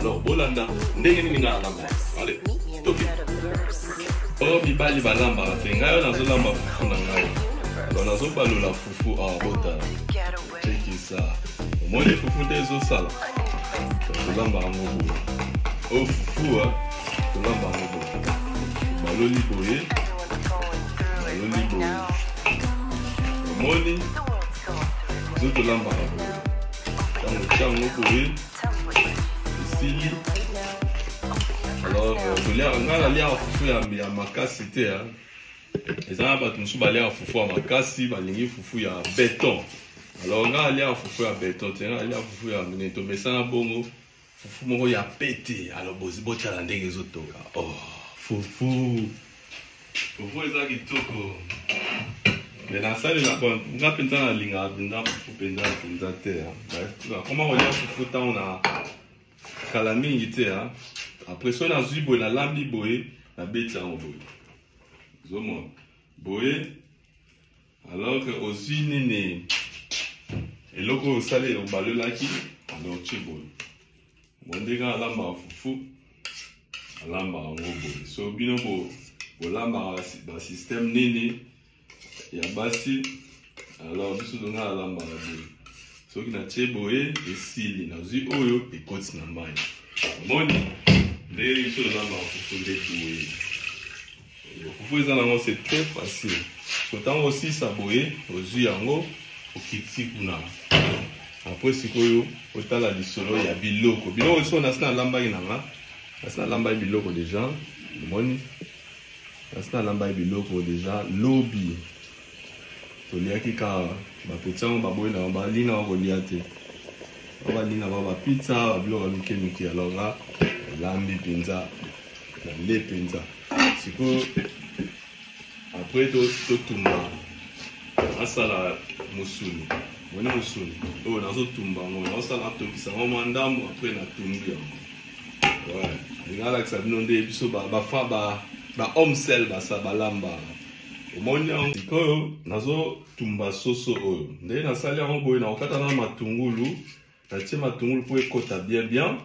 alors bolanda ndenge nini ngai alamba ale toke oyo mibali balambaka te ngai oyo nazolamba fufu na ngai alors nazobalola fufu awa ah, botala cekisa omoni fufu nde ezosala tolamba yango boye oyo oh, fufu ah, tolamba yango boye baloli boye baloli boye omoni zotolambaka boye ntango ntango boye esili alors euh, nga naliaka fufu ya makasi te eza na bato mosusu baliaka fufu ya makasi balingi fufu ya beton alors nga naliaka fufu ya beton te nga naliaka fufu ya minene tomesana bongo fufu moko ya pete alors botala ndenge ezotonga oh fufu fufu eza kitoko me nasalelaka nga mpenza nalingaka mpenza fufu mpenza mpenza te nakoma kolia fufu ntango na kala mingi te apres soki nazwi boye nalambi boye nabeti yango boye zomona boye alors que ozwi nini eloko oyo osali obalolaki alors tye boye bondeka alambaka fufu alambaka yango boye so bino bolambaka basystème nini ya basi alors biso zonga alambaka boye soki natye boye esili nazwi oyo ekoti na mai omoni ndenge biso olambaka fufu nde boye Kufu eza nango c'est très facile. So tango osisa boye ozui yango okiti kuna. Après sikoyo otala lisolo ya biloko. Biloko so nasi nalambaki na nga. Nasi nalambaki biloko déjà. Omoni? Nasi nalambaki biloko déjà lobi. toliaki ka bapeti yango baboyi na bango balina bango kolia te babalina bango bapizza babiloko mike mike alors nga nalambi mpenza nale mpenza sikoyo apres totumba asala mosuni moni mosuni oyo nazotumba yango naosala atokisa yango mwa ndambo apres natumbi yango lingalakisa bino nde biso bafaba ba homesel basa balambaka omoni yango sikoyo nazotumba soso oyo nde nasali yango boye nakokata na matungulu natie matungulu mpo ekota bien bien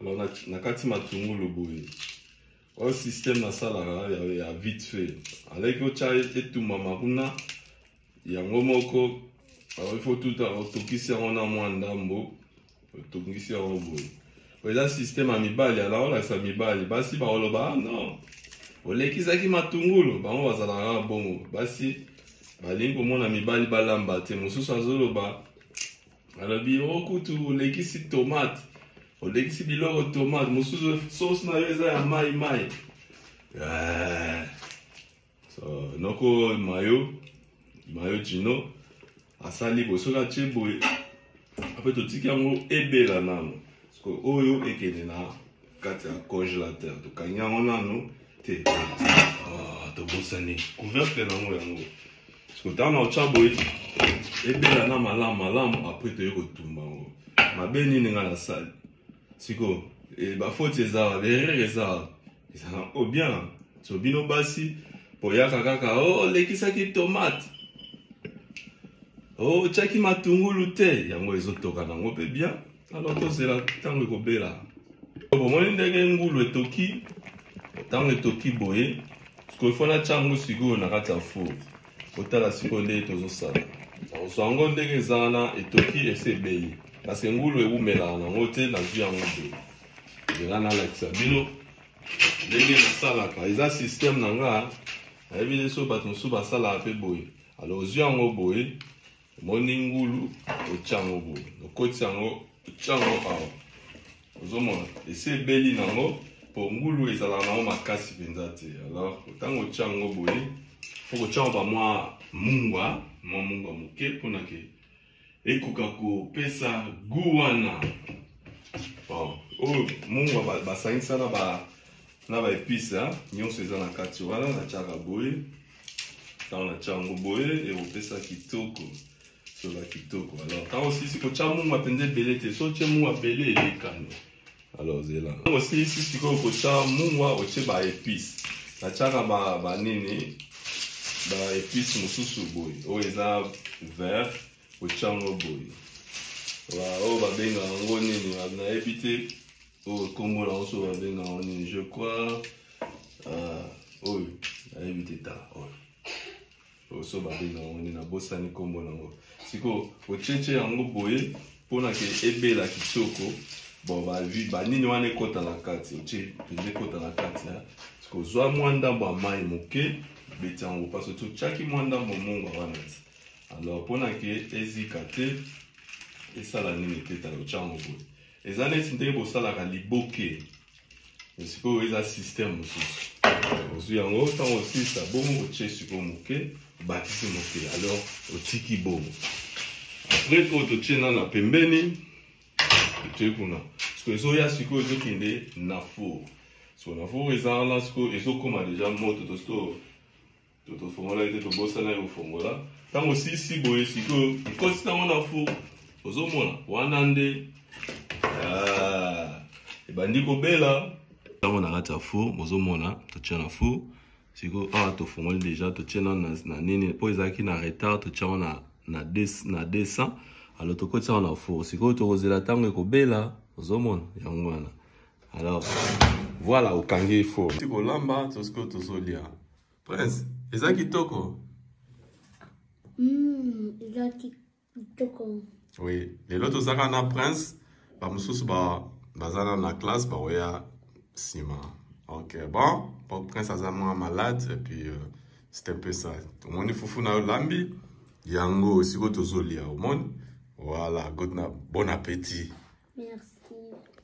alors nakati matungulu boye oyo système nasalaka ya vite fait aleki otya etumbama kuna yango moko alors il faut tout otokisi yango na mwa ndambo otongisi yango boye eza systeme ya mibali ala olakisa mibali basi baoloba ah, non olekisaki matungulu bango bazalaka na bongo basi balingi komona mibali balamba te mosusu azoloba alobi o oh, kutu olekisi tomate olekisi biloko tomate mosusu sosi na yo eza ya mai mai eh, so, noko mayo mayo jino asali boye soki atye boye ape totiki yango ebela nano soki oyo ekende na kati ya congelateur tokangi yango nano te ah, tobosani couvercle nango yango soki ntango na otya boye ebela na malamu malamu apres toye kotumba yango mabe nini ngai nasali siko eh, bafoti eza wa berere eza wa ezala o bien so bino basi boyaka kaka olekisaki oh, tomate otyaki oh, matungulu te yango ezotoka nango mpe bien alors tozela ntango ekobela bomoni ndenge ngulu etoki ntango etoki boye sikoyo fo natya yango sikoyo na kati ya four kotala sikoyo ndenge tozosala nakozwa yango ndenge eza wana etoki esi ebeyi kasi ngulu ewumelaka nango te nazwi yango boye ndela nalakisa bino ndenge nasalaka eza systeme na nga nayebi nde so bato mosusu basalaka mpe boye alo ozwi yango boye omoni ngulu otya yango boye okotisa yango otya yango awa ozomona esi ebeli na yango mpo ngulu ezalaka na yango makasi mpenza te alors ntango otya yango boye fo kotya yango bamwa mungwa mwa mungwa moke mpona ke ekoka kopesa gu wana bon oyo mungwa basangisa na ba na baepice nyonso eza na kati wana natyaka boye ntango natya yango boye ekopesa kitoko sola kitoko alors ntango osilisi kotya mungwa mpenza ebele te so otye mungwa ebele elekani alors zela ntango osilisi sikoyo kotya mungwa otye ba épice natyaka banini ba épice mosusu boye oyo eza vert kotyango boye oyo babenga yango nini nayebi te oyo nkombo na yango so babenga yango nini je crois euh, oyo nayebi te ta oyo oyo so babenga yango nini nabosani nkombo na yango sikoyo otyetye yango boye mpo na ke ebela kitoko bon bavi banini wana ekota na kati otie mpenza ekota na kati sikoyo zwa mwa ndambo ya mai moke beti yango mpasi otyaki mwa ndambo mongo wana ti alors mpo na ke ezika te esala nini te tala otyango boye eza neti ndenge bosalaka liboke sikoyo eza système mosusu ozwi yango ntango osilisa bongo otye sikoyo moke obakisi moke alors otiki bongo apres oyo totye na na pembeni otye kuna sikoyo ezoya sikoyo ezokende na four sikoyo na four eza wana sikoyo ezokoma deja moto tosikoyo tofongolaki te tobosanaki kofongola ntango sisi boye sikoyo ekosi ntango na fu ozomona wana nde ah, ebandi kobela ntango na kati ya fu bozomona totia na fu sikoyo awa tofongoli deja totie na na nini mpo ezalaki na retard totia wana na 200 alo tokotisa wana na four sikoyo tokozela ntango ekobela ozomona yango wana alors voilà okangi four kolamba tosikoyo tozolia Prince, eza kitoko. Mm, eza kitoko. Oui, lelo tozaka na Prince, ba mususu ba bazana na classe ba oya sima. Ok, bon, bon Prince aza mwa malade et puis euh, c'est un peu ça. Omoni fufu na lambi yango siko tozolia omoni. Voilà, good na bon appétit. Merci.